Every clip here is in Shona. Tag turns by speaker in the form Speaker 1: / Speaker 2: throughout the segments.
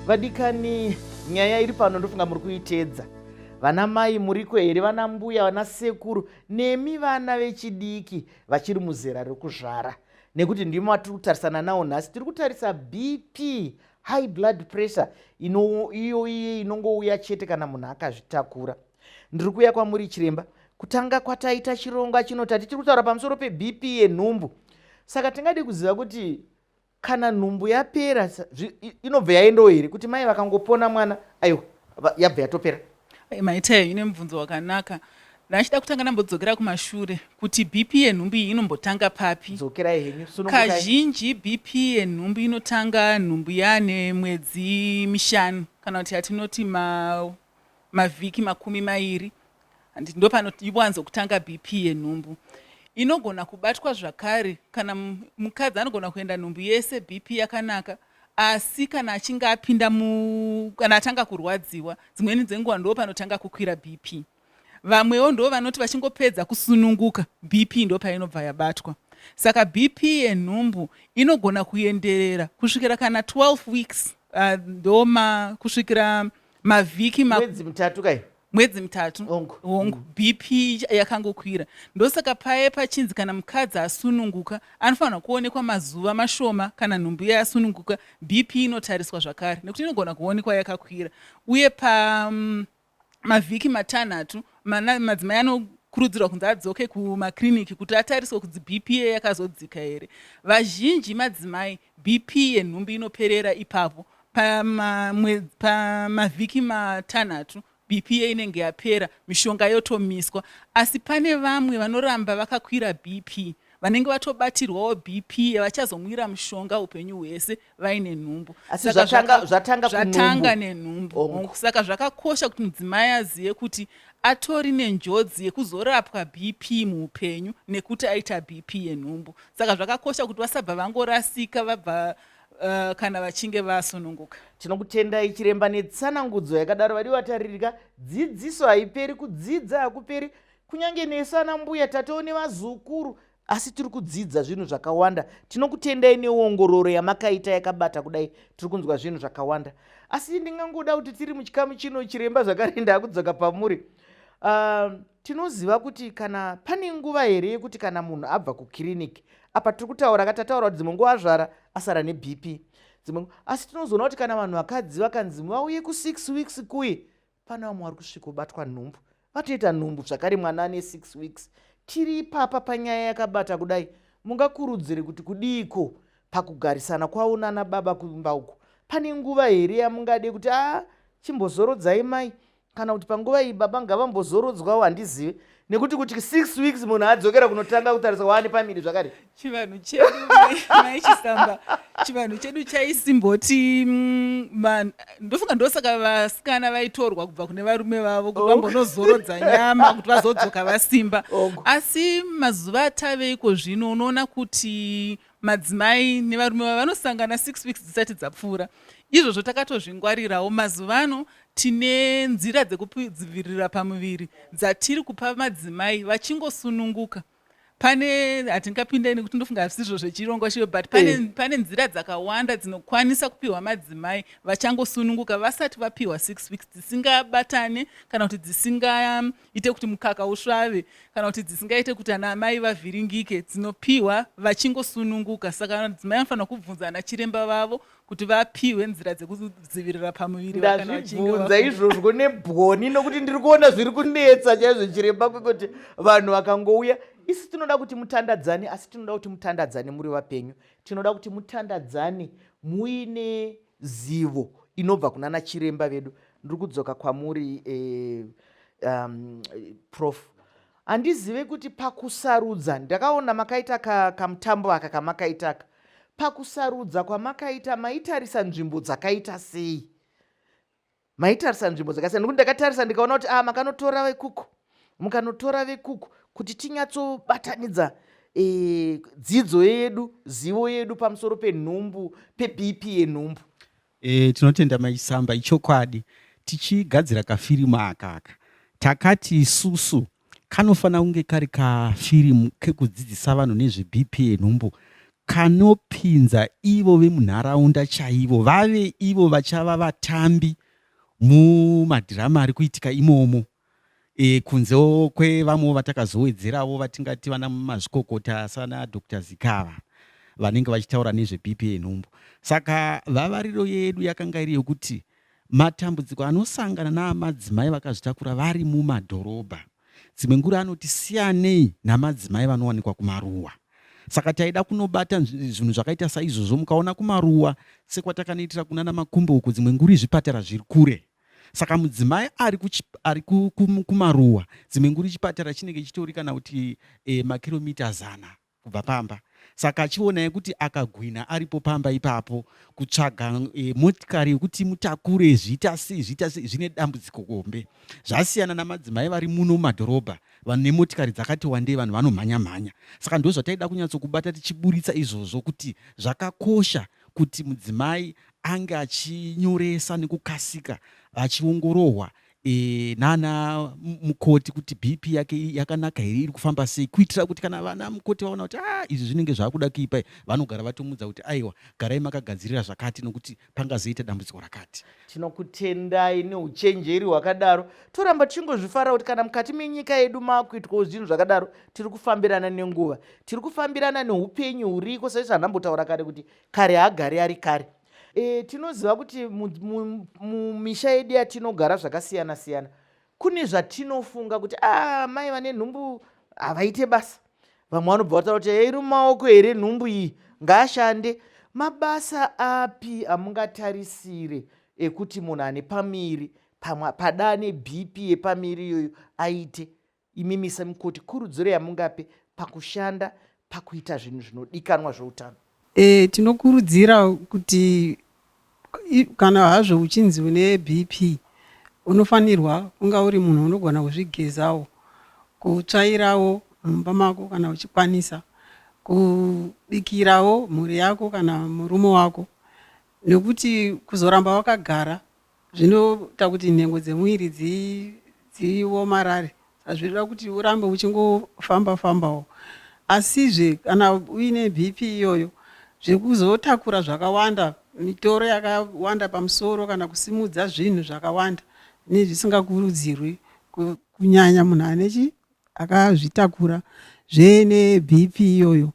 Speaker 1: vadikani nyaya iri pano ndofunga muri kuitedza vana mai muriko here vana mbuya vana sekuru nemi vana vechidiki vachiri muzera rekuzvara nekuti ndimo atiri kutarisana nawo nhasi tiri kutarisa bp high blood pressure iyo iye inongouya chete kana munhu akazvitakura ndiri kuuya kwamuri chiremba kutanga kwataita chirongwa chino tati tiri kutaura pamusoro pebp yenhumbu saka tingadi kuziva kuti kana nhumbu yapera inobva yaendawo here kuti mai vakangopona mwana aiwa yabva yatopera eh, maita ine
Speaker 2: mubvunzo wakanaka ndachida kutanga ndambodzokera kumashure kuti bp yenhumbu iyi inombotanga papi dzokerai henyu
Speaker 1: kazhinji
Speaker 2: bp yenhumbu inotanga nhumbu yane mwedzi mishanu kana kuti yatinoti ma mavhiki makumi mairi and ndopanowanzo kutanga BP yenhumbu inogona kubatwa zvakare kana mukadzi anogona kuenda nhumbu yese BP yakanaka asi kana achinge apinda mu kana atanga kurwadziwa dzimweni dzenguva ndo panotanga kukwira BP vamwewo ndo vanoti vachingopedza kusununguka BP ndo painobva yabatwa saka BP yenhumbu inogona kuenderera kusvikira kana 12 weeks uh, ndoma kusvikira mavhiki ma... mwedzi mitatu kai mwedzi mitatu hongu mm. bp yakangokwira ndosaka paye pachinzi kana mukadzi asununguka anofanirwa kuonekwa mazuva mashoma kana nhumbu iye asununguka bp inotariswa zvakare nekuti inogona kuonekwa yakakwira uye pa mm, mavhiki matanhatu madzimai ano kurudzirwa kunzi adzoke kumakriniki kuti atariswe kuti bp ye yakazodzika here vazhinji madzimai BP yenhumbu inoperera ipapo. Pamavhiki matanhatu BP ye inenge yapera, mishonga yotomiswa. Asi pane vamwe vanoramba vakakwira BP vanenge vatobatirwawo BP vachazomwira mushonga upenyu hwese vaine nhumbu. Asi zvatanga, zvatanga,
Speaker 1: zvatanga nenhumbu.
Speaker 2: Oh. Saka zvakakosha kuti mudzimai azive kuti atori nenjodzi yekuzorapwa BP muupenyu nekuti aita BP yenhumbu. saka zvakakosha kuti vasabva vangorasika vabva uh, kana vachinge vasununguka tinokutendai
Speaker 1: chiremba netsanangudzo yakadaro vadi vataririka dzidziso haiperi kudzidza hakuperi kunyange nesu ana mbuya tatewo nevazukuru asi tiri kudzidza zvinhu zvakawanda tinokutendai neongororo yamakaita yakabata kudai tiri kunzwa zvinhu zvakawanda asi ndingangoda kuti tiri muchikamu chino chiremba zvakare ndakudzoka pamuri uh, Tinoziva kuti kana pane nguva here yekuti kana munhu abva kukiriniki apa tiri kutaura ka tataura kuti dzimwe nguva azvara asara nebp dzimwe asi tinozoona kuti kana vanhu vakadzi vakanzi vauye kusix weeks kuye pana vamwe vari kusvika obatwa nhumbu vatoita nhumbu zvakare mwana ane six weeks tiri ipapa panyaya yakabata kudai mungakurudzire kuti kudiiko pakugarisana kwavo nana baba kumba uko pane nguva here yamungade kuti a ah, chimbozorodzai mai kana kuti panguva iyi baba ngavambozorodzwawo handizive nekuti kuti six weeks munhu adzokera kunotanga kutarisa waane pamiri zvakare chivanhu chedu
Speaker 2: maichisamba chivanhu chedu chaisimboti mm, ndofunga ndosaka vasikana vaitorwa kubva kune varume vavo kuti vambonozorodza nyama kuti vazodzoka vasimba asi mazuva atave iko zvino unoona kuti Madzimai nevarume vavo vanosangana six weeks dzisati dzapfuura. Izvozvo takatozvingwarirawo. Mazuva ano tine nzira dzekudzivirira pamuviri dzatiri kupa madzimai vachingosununguka pane hatingapinde nekuti ndofunga hazvisizvo zvechirongwa chiyo but pane, eh. pane nzira dzakawanda dzinokwanisa kupiwa madzimai vachangosununguka vasati vapiwa six weeks dzisingabatane kana kuti dzisinga ite kuti mukaka usvave kana kuti dzisingaite kuti ana amai vavhiringike dzinopiwa vachingosununguka saka madzimai anofanira kubvunza ana chiremba vavo kuti vapiwe nzira dzekudzivirira pamuviri ndazvibvunza
Speaker 1: izvozvo nebwoni nokuti ndiri kuona zviri kunetsa chaizvo chiremba kwekuti vanhu vakangouya isi tinoda kuti mutandadzane asi tinoda kuti mutandadzane muri vapenyu tinoda kuti mutandadzane muine zivo inobva kunana chiremba vedu ndiri kudzoka kwamuri eh, um, prof handizive kuti pakusarudza ndakaona makaita kamutambo ka aka kamakaita aka pakusarudza kwamakaita maitarisa nzvimbo dzakaita sei maitarisa nzvimbo dzakasiyana nekuti ndakatarisa ndikaona kuti a ah, makanotora vekuku mukanotora vekuku kuti tinyatsobatanidza e, dzidzo yedu zivo yedu pamusoro penhumbu pebp yenhumbu e, tinotenda
Speaker 3: maisamba ichokwadi tichigadzira kafirimu akaka takati isusu Kanofanira kunge kari kafirimu kekudzidzisa vanhu nezveBP yenhumbu kanopinza ivo vemunharaunda chaivo vave ivo vachava vatambi mumadhirama ari kuitika imomo e, kunzewo kwevamwewo vatakazowedzerawo vatingati vana mazvikokota sana dr zikava vanenge vachitaura nezveBP yenhumbu saka vavariro yedu yakanga iri yokuti Matambudziko anosangana namadzimai vakazvitakura vari mumadhorobha dzimwe ngura anoti siyanei namadzimai vanowanikwa kumaruwa saka taida kunobata zvinhu zvakaita saizvozvo mukaona kumaruwa sekwatakanoitira kuna namakumbo uko dzimwe nguri zvipatara zviri kure saka mudzimai ari, kuchi, ari kumaruwa dzimwe nguri chipatara chinenge chitori kana kuti e, makiromita zana kubva pamba saka achionai kuti akagwina aripo pamba ipapo kutsvaga e, motikari yekuti mutakure zviita sei zviita sei zvine dambudziko kombe zvasiyana namadzimai vari muno mumadhorobha vanhu nemotikari dzakati wandei vanhu vanomhanya mhanya saka ndo zvataida kunyatsokubata tichiburitsa izvozvo kuti zvakakosha kuti mudzimai ange achinyoresa nekukasika vachiongorohwa e, nana mukoti kuti bp yake yakanaka here iri kufamba sei kuitira kuti kana vana mukoti vaona kuti ah, izvi zvinenge zvakuda kuipa vanogara vatomudza kuti aiwa garai makagadzirira zvakati nokuti pangazoita dambudziko rakati tinokutendai
Speaker 1: neuchenjeri hwakadaro toramba tichingozvifara kuti kana mukati menyika yedu maakuitwawo zvinhu zvakadaro tiri kufambirana nenguva tiri kufambirana neupenyu huriko saizvo anambotaura kare kuti kare hagari ari kare E, tinoziva kuti mumisha yedu yatinogara zvakasiyana siyana kune zvatinofunga kuti a ah, mai vane nhumbu havaite basa vamwe vanobva vataura kuti iri mumaoko here nhumbu iyi ngaashande mabasa api amungatarisire ekuti munhu ane pamiri padaa nebp yepamiri iyoyo aite Imimi semukoti, kurudziro yamungape pakushanda pakuita zvinhu zvinodikanwa zveutano? E, tinokurudzira
Speaker 4: kuti kana hazvo uchinzi une BP unofanirwa kunga uri munhu unogona kuzvigezawo, kutsvairawo mumba mako kana uchikwanisa, kubikirawo mhuri yako kana murume wako, nekuti kuzoramba wakagara Zvinoita kuti nhengo dzemuviri dzi, dziomarare saka zvinoda kuti urambe uchingofamba fambawo. Asizve kana uine BP iyoyo, zvekuzotakura zvakawanda, mitoro yakawanda pamusoro kana kusimudza zvinhu zvakawanda zvinenge zvisingakurudzirwi ku, kunyanya munhu ane chi, akazvitakura zve neBP iyoyo.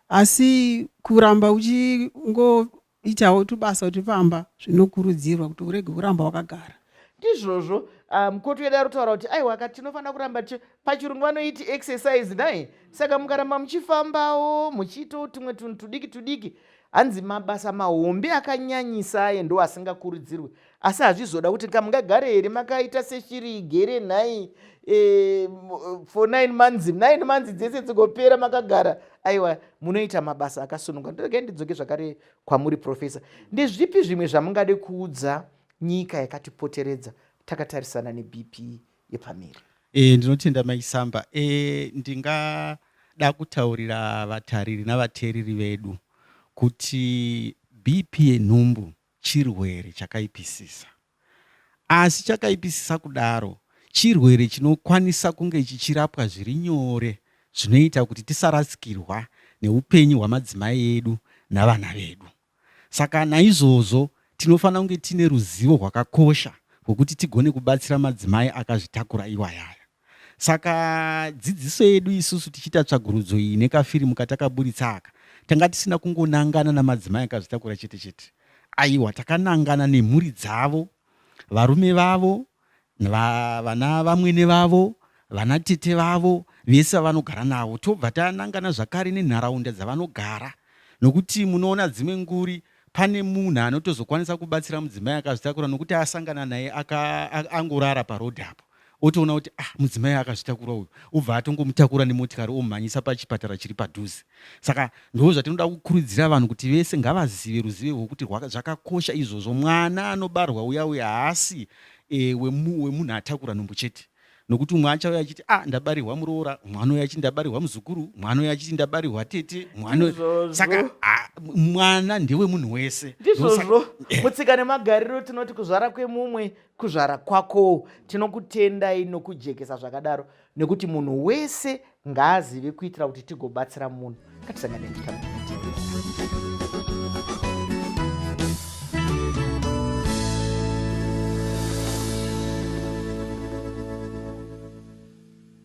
Speaker 4: Asi kuramba uchingo Itawo tubasa turi pamba zvinokurudzirwa kuti urege kuramba wakagara. Ndizvozvo
Speaker 1: ah, mukoti wedu ari kutaura kuti aiwa ka tinofanira kuramba tichi pachirungu vanoiti exercise nhai saka mukaramba muchifambawo muchiitawo tumwe tunhu tudiki tudiki hanzi mabasa mahombe akanyanyisa aye ndo asingakurudzirwe asi hazvizoda kuti ka mungagare here makaita seshiri igere nhai e, for nine months nine months dzese dzigopera makagara aiwa munoita mabasa akasununga ndoregai ndidzoke zvakare kwamuri profesa ndezvipi zvimwe zvamungade kuudza nyika yakatipoteredza takatarisana nebp yepamiri e, ndinotenda
Speaker 3: maisamba e, eh, ndingada kutaurira vatariri navateereri vedu kuti bp yenhumbu chirwere chakaipisisa. Asi chakaipisisa kudaro, chirwere chinokwanisa kunge chichirapwa zviri nyore zvinoita kuti tisarasikirwa neupenyu hwamadzimai edu navana vedu. Saka naizvozvo tinofanira kunge tiine ruzivo rwakakosha rwokuti tigone kubatsira madzimai akazvitakura iwayaya. Saka dzidziso yedu isusu tichiita tsvagurudzo iyi nekafirimu katakaburitsa aka, tanga tisina kungonangana namadzimai akazvitakura chete chete. Aiwa, takanangana nemhuri dzavo, varume vavo, va, vana vamwene vavo, vana tete vavo, vese vavanogara navo. Tobva tanangana zvakare nenharaunda dzavanogara, nokuti munoona dzimwe nguri pane munhu anotozokwanisa kubatsira mudzimai akazvitakura nokuti asangana naye angorara parodhi apo otoona kuti ah mudzimai akazvitakura uyu obva atongomutakura nemotikari omhanyisa pachipatara chiri padhuze saka ndo zvatinoda kukurudzira vanhu kuti vese ngavazive ruzive rwekuti zvakakosha izvozvo mwana anobarwa uya uya haasi e, wemunhu atakura nhumbu chete nokuti umwe achauya achiti ah ndabarirwa muroora mwana uya achiti ndabarirwa muzukuru mwana uya achiti ndabarirwa tete mwana saka ah, mwana ndewemunhu wese ndizvozvo eh.
Speaker 1: mutsika nemagariro tinoti kuzvara kwemumwe kuzvara kwakowo tinokutendai nokujekesa zvakadaro nekuti munhu wese ngaazive kuitira kuti tigobatsira munhu ngatisangane nyika